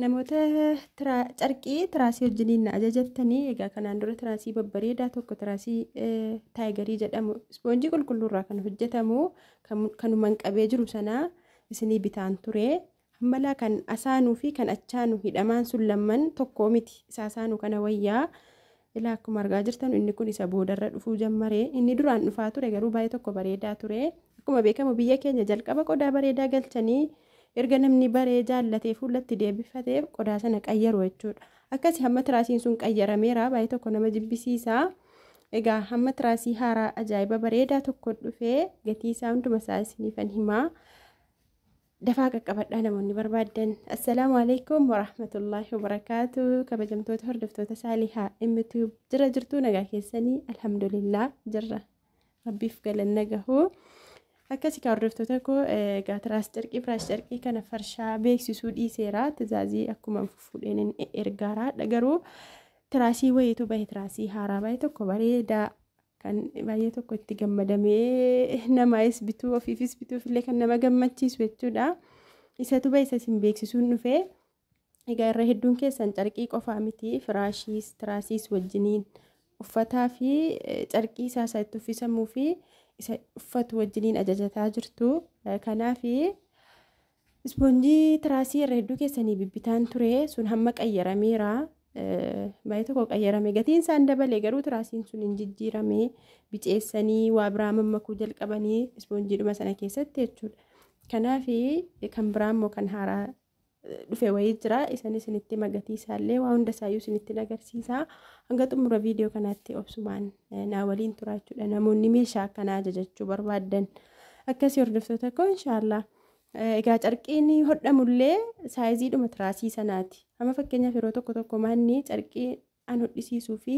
Namoota tiraa- carqii tiraasii wajjiniin na ajajattanii egaa kanaan dura tiraasii babbareedaa tokko tiraasii eh, taayigarii jedhamu ispoonjii qulqulluurraa kan hojjetamu kan- kanuman qabee jiru sanaa isinii bitaan ture. Hammalaa kan asaanuu fi kan achaanu hidhamaan sun lamman tokkoo miti isa asaanu kana wayyaa Ilaa akkuma argaa jirtan inni kun isa boodarra dhufuu jammare. Inni duraan dhufaa ture garuu baay'ee tokko bareedaa ture. Akkuma beekamu biyya keenya jalqaba qodaa bareedaa galchanii erga namni baree jaallatee fuullatti deebifate qodaa sana qayyaru jechuudha. Akkasi hamma tiraasiin sun qayyarameera baay'ee tokko nama jibbisiisa. Egaa hamma tiraasii haaraa ajaa'iba bareedaa tokko dhufee gatii isaa hunduma isaa isiniifan himaa. Dafaa qaqqabadhaa namoonni barbaaddan. Assalaamu alaikum warahmatullaahi wabarakaatu. Kabajamtoota hordoftoota saalihaa MTube jira jirtuu nagaa keessanii alhamdulillah jirra. Rabbiif galanna gahu. Akkasi kaa hordoftoota koo egaa tiraas carqii firaas carqii kana farshaa beeksisuu dhiiseera. Tizaazii akkuma fuudheen ergaara. Garuu tiraasii wayiitu bahe tiraasii haaraa bahe tokko bareedaa kan baay'ee tokko itti gammadamee namaayis bituu ofiifis bituuf illee kan nama gammachiisu jechuudha. Isatu ba'e isa isin beeksisuun dhufe. Egaa irra hedduun keessan carqii qofaa miti firaashiis tiraasiis wajjiniin uffataa fi carqii isaa isa itti uffisamuu fi isa uffatu wajjiniin ajajataa jirtu. Kanaaf Ispoonjii tiraasii irra hedduu keessanii bibbitaan ture sun hamma qayyarameera. Baay'ee tokko qayyarame gatiin isaan dabale garuu tiraasiin sun hin jijjiirame biceessanii waa biraa mammakuu jalqabanii ispoonjiidhuma sana keessatti jechuudha. Kanaaf kan biraa immoo kan haaraa dhufe wayii jira isanis isinitti magatii isaallee waa hunda isaayyuu isinitti agarsiisa hanga xumura viidiyoo kanaatti obsumaan naa waliin turaachuudha namoonni meeshaa akkanaa ajajachuu barbaaddan akkasii hordoftoota koo inshaallah. Egaa carqiin hodhamullee saayiziidhuma tiraasii sanaati. Amma fakkeenyaaf yeroo tokko tokko maanni carqii an hodhisiisuu fi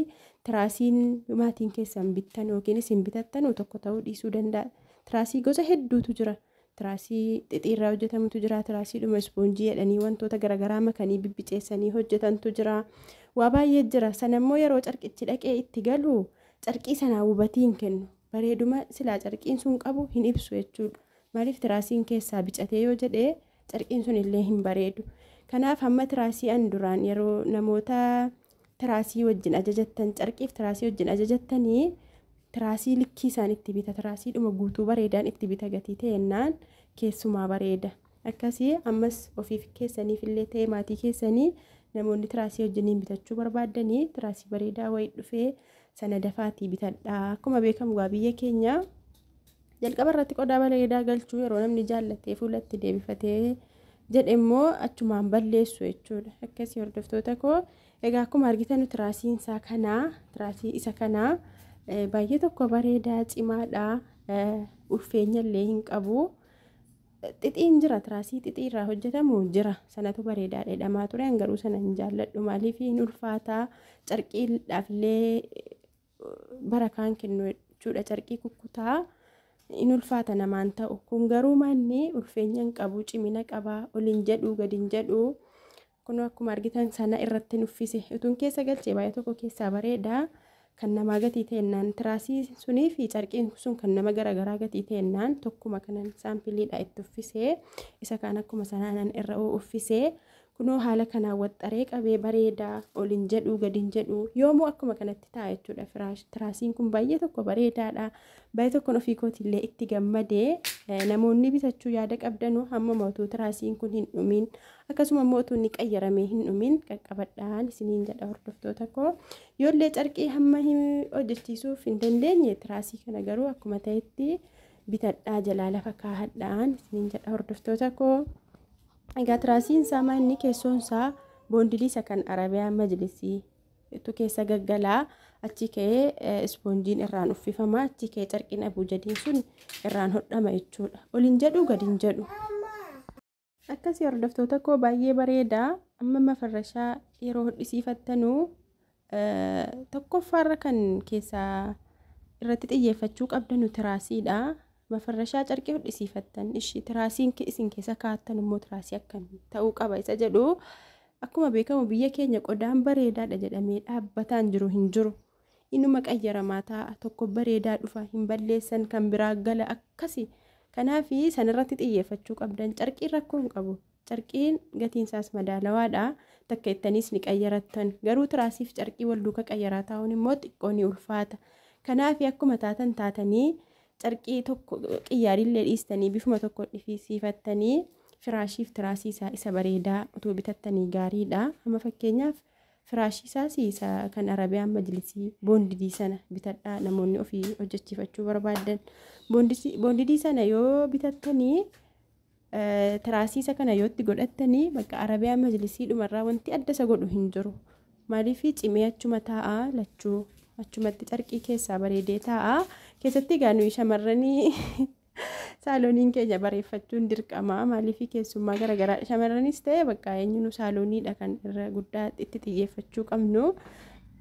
tiraasiin maatiin keessan bittan yookiin isin bitattanu tokko ta'uu dhiisuu danda'a. Tiraasii gosa hedduutu jira. Tiraasii xixiirraa hojjetamutu jira. Tiraasiidhuma ispoonjii jedhanii wantoota garaagaraa makanii bibbiceessanii hojjetantu jira. Waa baay'ee jira. Sanammoo yeroo carqichi dhaqee itti galu carqii sanaa hubatii hin kennu. Bareeduma silaa carqiin sun qabu hin ibsu jechuudha. Maaliif tiraasiin keessaa bicatee yoo jedhe carqiin sun illee hin bareedu. Kanaaf hamma tiraasii an duraan yeroo namoota tiraasii wajjin ajajattan carqiif tiraasii wajjin ajajattanii tiraasii likkii isaan itti bita tiraasii dhuma guutuu bareedaan itti bita gatii ta'ennaan keessumaa bareeda. Akkasii ammas ofiif keessaniif illee ta'ee maatii keessanii namoonni tiraasii wajjiniin bitachuu barbaaddanii tiraasii bareedaa wayii dhufee sana dafaatii bitadhaa. Akkuma beekamu gaa biyya keenya Jalqaba irratti qodaa baleedaa galchuu yeroo namni jaallatee fuulatti deebifatee jedhe immoo achumaan balleessu jechuudha. Akkasii hordoftoota koo egaa akkuma argitan tiraasiin isaa kanaa tiraasii isa kanaa baay'ee tokko bareedaa cimaadha ulfeenya illee hin qabu. Xixiin jira tiraasii xixii irraa hojjetamu jira sanatu bareedaa dheedhamaa ture garuu sana hin jaalladhu maaliif hin ulfaataa carqiidhaaf illee barakaan kennu jechuudha carqii kukkutaa in ulfaata namaan ta'u kun garuu manni ulfeenya hin qabu cimina qaba ol hin jedhu gad hin jedhu kun akkuma argitan sana irratti nuffise utuun keessa galchee baay'ee tokko keessaa bareeda kan namaa gatii ta'ennaan tiraasii sunii fi carqiin sun kan nama garaagaraa gatii ta'ennaan tokkuma kanan saampiliidha itti uffisee isa kaan akkuma sanaanan irra uffisee Kunoo haala kanaan waxxaree qabee bareeda ol hin jedhuu gad hin jedhuu yoomuu akkuma kanatti ta'a jechuudha firaash tiraasiin kun baay'ee tokko bareedaadha baay'ee tokkon ofii kootiillee itti gammadee namoonni bitachuu yaada qabdanuu hamma mootuu tiraasiin kun hin dhumiin akkasuma immoo utuu inni qayyaramee hin dhumiin qaqqabadhaan isiniin jedha hordoftoota koo yoollee carqii hamma hojjechiisuuf hin dandeenye tiraasii kana garuu akkuma ta'etti bitadhaa jalaa lafa kaahadhaan isiniin jedha hordoftoota koo. Egaa tiraasiin isaa maa inni keessoon isaa boondilii isa kan Arabiyaan majlisii tu keessa gaggalaa achi ka'ee ispoonjiin irraan uffifama achi ka'ee carqiin abuujadiin sun irraan hodhama jechuudha. Olin jedhu gadi hin jedhu. Akkasii hordoftoota koo baay'ee bareeda amma mafarrashaa yeroo hodhisiifattanu Tokkoffaarra kan keessaa irratti xiyyeeffachuu qabdanu tiraasiidha. Mafarrashaa carqii hodhisiifattan ishi tiraasiin isin keessa kaa'attan immoo tiraasii akkamii ta'uu qaba isa jedhu akkuma beekamu biyya keenya qodaan bareedaadha jedhamee dhaabbataan jiru hin jiru. Inuma qayyaramaa taa'a tokko bareedaa dhufa hin balleessan kan biraa gala akkasi. Kanaaf sanirratti xiyyeeffachuu qabdan carqiin rakkoo hin qabu Carqiin gatiin isaas madaalawaa dha. Takka ittaniis ni qayyarattan. Garuu tiraasiif carqii wal duuka qayyaraa taa'uun immoo xiqqoo ni ulfaata. Kanaafi akkuma taatan taatanii carqii tokko qiyyaariin illee dhiistanii bifuma tokko dhifisiifattanii firaashiif tiraasii isaa isa bareedaa utuu bitattanii gaarii dha. Amma fakkeenyaaf firaashii isaas isa kan Arabiyaan majlisii boondidii sana bitadhaa namoonni ofii hojjechiifachuu barbaadan. Boondidii sana yoo bitattanii Tiraasiisa kana yootti godhattanii bakka arabiyaa majlisii dhumarraa wanti adda isa godhu hin jiru. Maaliif cimee achuma taa'a lachuu achumatti carqii keessaa bareedee taa'a. Keessatti egaa nuyi shamarranii saalooniin keenya bareeffachuun dirqama. Maaliif keessummaa garaagaraa shamarranis ta'e bakka eenyuun saalooniidha kan irra guddaa itti xiyyeeffachuu qabnu.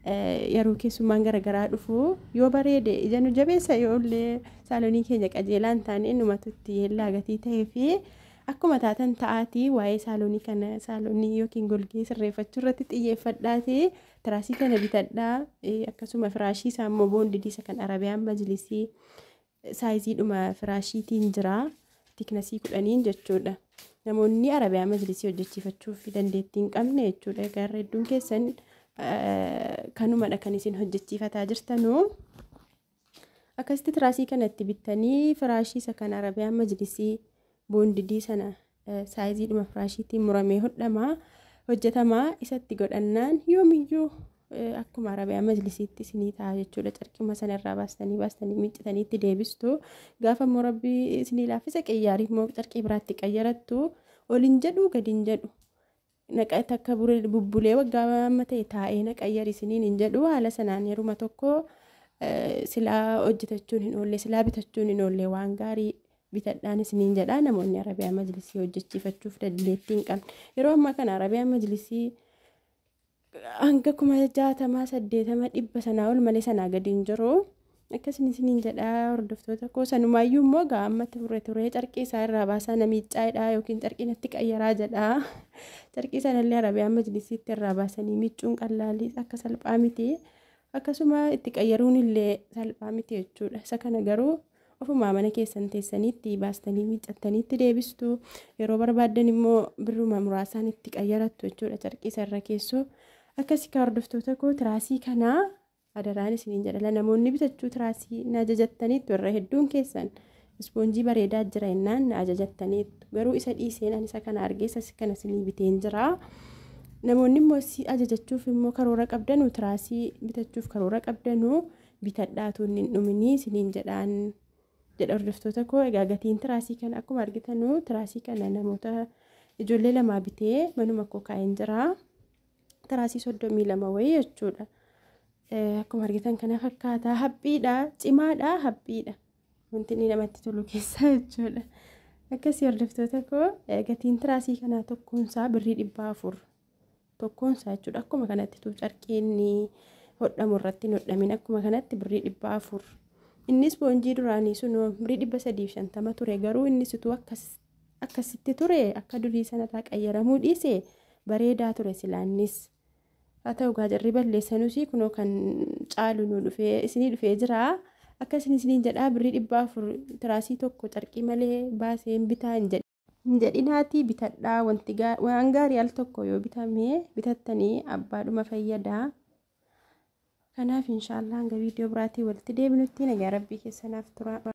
Yeroo keessummaan gara garaa dhufu yoo bareede ija nu jabeessa yoo illee saalonii keenya qajeelaa hin taane numatu itti yeellaa gatii ta'ee fi akkuma taatan ta'aatii waa'ee saalonii kana saalonii yookiin golgee sirreeffachuu irratti xiyyeeffadhaati tiraasii kana bitadhaa akkasuma firaashii isaa immoo boondidii isa kan arabiyaan majlisii Saayiziidhuma firaashiitiin jira. Tiknasii kudhaniin jechuudha. Namoonni Arabiyaa majlisii hojjechiifachuuf dandeettii hin qabne jechuudha. Egaa irra hedduun keessan kanumadha kan isin hojjechiifataa jirtanu. Akkasitti tiraasii kanatti bittanii firaashii isa kan Arabiyaa majlisii boondidii sana saayiziidhuma firaashiitiin muramee hodhama hojjetama isatti godhannaan yoomiyyuu akkuma arabiyaa majlisiitti isinii ta'a jechuudha carqima sana irraa baastanii baastanii miiccitanii itti deebistu gaafa immoo rabbii isinii laaffisa qiyyaariif immoo carqii biraatti qayyarattu olin jedhu gadin jedhu Naqa takka bure bubbulee waggaa amma ta'e taa'ee na qayyari isiniin hin jedhu haala sanaan yeruma tokko eh, silaa hojjetachuun hin oolle silaa bitachuun hin oolle waan gaarii bitadhaan isiniin jedha namoonni arabiyaa majlisii hojjechiifachuuf dandeettii hin qabne yeroo ammaa kana arabiyaa majlisii hanga kuma jaatamaa saddeetama dhibba sanaa ol malee sanaa gadi hin jiru. Akkasin isiniin jedhaa hordoftoota koo sanumaayyuu immoo gaa ammatti furre turee carqii isaa irraa baasaa na miiccaa jedhaa yookiin carqii natti qayyaraa jedhaa carqii sanallee arabiyaa majlisiitti irraa baasanii miiccuun qallaalii akka salphaa miti akkasuma itti qayyaruun illee salphaa miti jechuudha isa kana garuu ofumaa mana keessan teessaniitti baastanii miiccattaniitti deebistu yeroo barbaaddan immoo birruma muraasaan itti qayyarattu jechuudha carqii isa irra keessoo akkasii kaa hordoftoota koo tiraasii kanaa Adaraan isiniin jedha la namoonni bitachuu tiraasii na ajajattaniittu irra hedduun keessan ispoonjii bareedaa jira innaan na ajajattaniittu garuu isa dhiiseen ani isa kana argee isa kana isinii biteen jira namoonni immoo si ajajachuuf immoo karoora qabdanu tiraasii bitachuuf karoora qabdanu bitadhaatu inni hin dhuminii isiniin jedhaan jedha hordoftoota koo egaa gatiin tiraasii kana akkuma argitanu tiraasii kana namoota ijoollee lamaa bitee manuma koo kaa'een jira. tiraasii soddomii lama wayii jechuudha. Akkuma argitan kana fakkaata haphiidha cimaadha haphiidha wanti inni namatti tolu keessaa jechuudha. Akkasii hordoftoota koo gatiin tiraasii kanaa tokkoonsaa birrii dhibba afur tokkoonsaa jechuudha akkuma kanatti tuu carqiin hodhamu irratti hin hodhamin akkuma kanatti birrii dhibba afur. Innis boonjii duraanii sun birrii dhibba sadiif shantama ture garuu innis utuu akkas Akkasitti ture akka durii sanarraa qayyaramuu dhiise bareedaa ture silaa innis. Haa ta'u egaa jarri balleessanuus kunoo kan caalu nu dhufee isinii dhufee jira. Akka isin isiniin jedhaa birrii dhibba afur tiraasii tokko carqii malee baasee hin bitaa hin jedhe. Hin jedhinaatii bitadhaa wanti gaa- waan gaarii al tokko yoo bitamee bitattanii abbaadhuma fayyadaa. Kanaaf inshaallah hanga viidiyoo biraatii walitti deebinutti nagaa rabbii keessanaaf turaa.